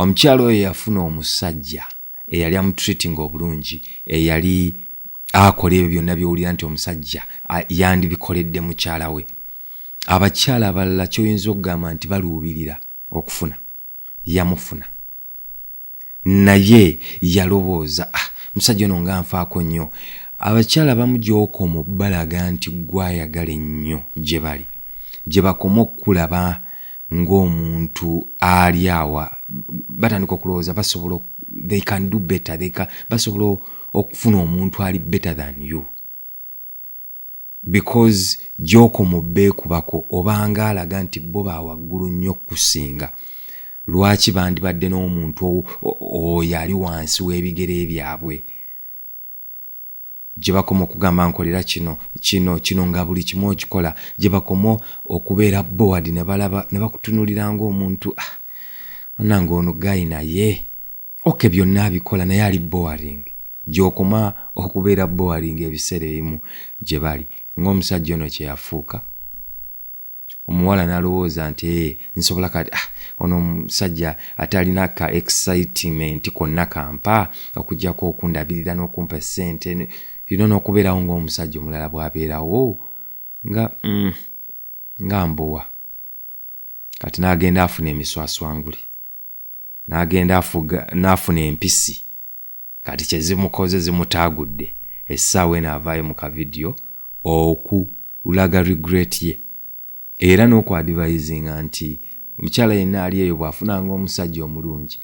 omukyalo oyo yafuna omusajja eyali amutreatinga obulungi eyali akola ebyo byonna byowulira nti omusajja yandibikoledde mukyala we abakyala abalala kyoyinza okugamba nti baluubirira okufuna yamufuna naye yalowooza ah, musajja ono nga nfaako nnyo abakyala bamu gyokoma okubalaga nti gwayagala ennyo gye bali gye bakoma okukulaba ng'omuntu ali awa batandika okulowooza basobola they can do better they can, basobola okufuna omuntu ali better than you because gy'okoma obbeekubako obanga alaga nti bo ba waggulu nnyo okukusinga lwaki bandibadde n'omuntu oyo ali wansi w'ebigere byabwe gye bakoma okugamba nkolera kino kino kino nga buli kimu okikola gye bakoma okubeera board ne balaba ne bakutunulira ngaomuntu ah, anange ono gayi naye oke byonna abikola naye ali boaring gyokoma okubeera boaring ebiseera ebimu gye bali ng'omusajja ono kye yafuuka omuwala nalowooza nti ee eh, nsobola kati ah, ono omusajja ate alina ka excitement konna kampa okujjako okundabirira n'okumpa esente yino n'okubeerawo ng'omusajja omulala bw'abeerawo nga mm, nga mbowa kati n'agenda afuna emiswaswangule n'agenda n'afuna empisi kati kye zimukoze zimutaagudde essaawa eno avaayo mu kavidiyo okulaga regret ye era n'okwadivayizinga nti omukyala yenna ali eyo bw'afunanga omusajja omulungi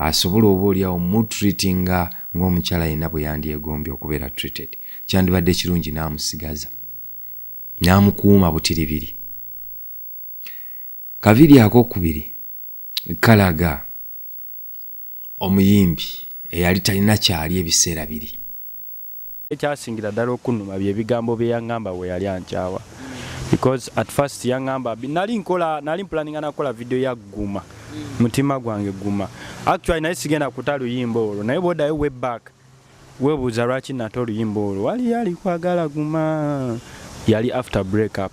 asobola oba oliawo mutreatinga ng'omukyala yenna bwe yandyegombye okubeera treated kyandibadde ekirungi n'amusigaza n'amukuuma butiribiri kavidiyo akokubiri kalaga omuyimbi eyali talina kyali ebiseera biri ekyasingira ddala okunuma byebigambo byeyaŋamba weyali ankyawa because at first yaŋamba nali nkola nali mpulaninga nakukola vidiyo ya guma mutima gwange guma actually naye sigenda kuta luyimba olwo naye bwodayo way back Webuuza lwaki nate oluyimba olwo waliyo alikwagala guma yali after break up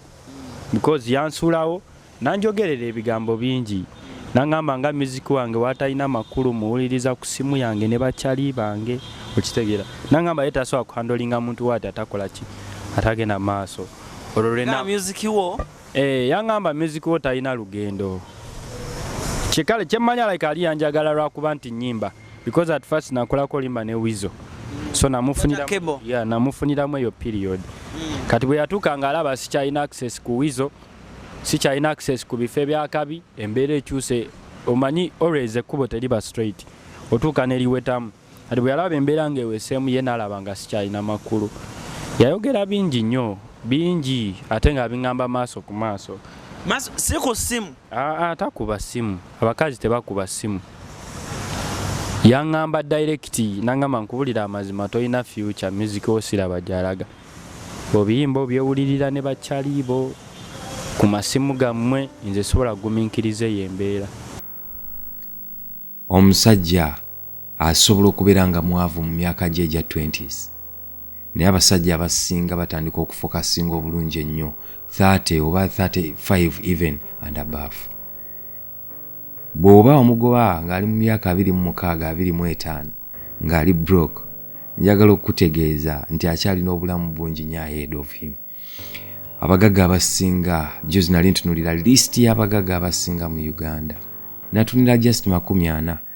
because yansulawo nanjogerera ebigambo bingi nangamba nga music wange watalina makulu muwuliriza ku simu yange ne bakyali bange okitegera nangamba ye tasobola kuhandolinga muntu wati atakola ki atagenda maaso olwo lwena music wo eh yangamba music wo talina lugendo kyekale kyemmanya like ali yanjagala lwakuba nti nyimba because at first nakolako limba ne wizo so namufuniramu yeah, namufuniramu eyo period mm. kati bwe yatuuka nga alaba sikyalina access ku wizo sikyalina access ku bifo ebyakabi embeera ekyuse omanyi always ekkubo teriba straight otuuka neriwetamu kati bwe yalaba embeera nga eweseemu ye nalaba nga sikyalina makulu yayogera bingi nnyo bingi ate nga biŋamba maaso ku maaso si ku simu ah, ah, takuba simu abakazi tebakuba simu yangamba direct nangamba nkubulira amazima tolina future music osiraba gyalaga obiyimba obyewulirira ne bakyaliibo ku masimu gammwe nze sobola kuguminkiriza eyo embeera omusajja asobola okubeera nga mwavu mu myaka gye egya 20s naye abasajja abasinga batandika okufokasinga obulungi ennyo 30 oba 35 even and above bw'oba omugoba ng'ali mu myaka abiri mu mukaaga abiri mu etaano ng'ali brok njagala okukutegeeza nti akyalina obulamu bungi nyo ahead of him abagaga abasinga juzi nali ntunulira list y'abagaga abasinga mu uganda natunira just makumi ana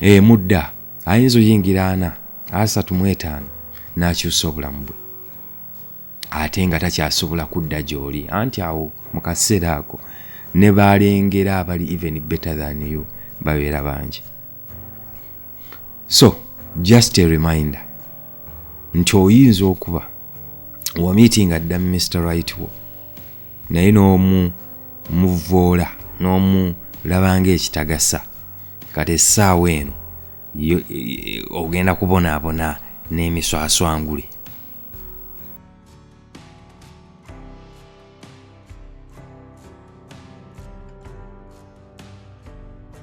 emudda eh, ayinza oyingira ana asatu mu etaano n'akyusa obulamu bwe ate nga takyasobola kudda gy'oli anti awo mu kaseera ako ne balengera abali even better than you babeera bangi so just a reminder nti oyinza okuba wamiiti nga dda mister right wo naye n'omu muvvoola n'omu labanga ekitagasa kati essaawa eno e, e, ogenda kubonaabona n'emiswaswangule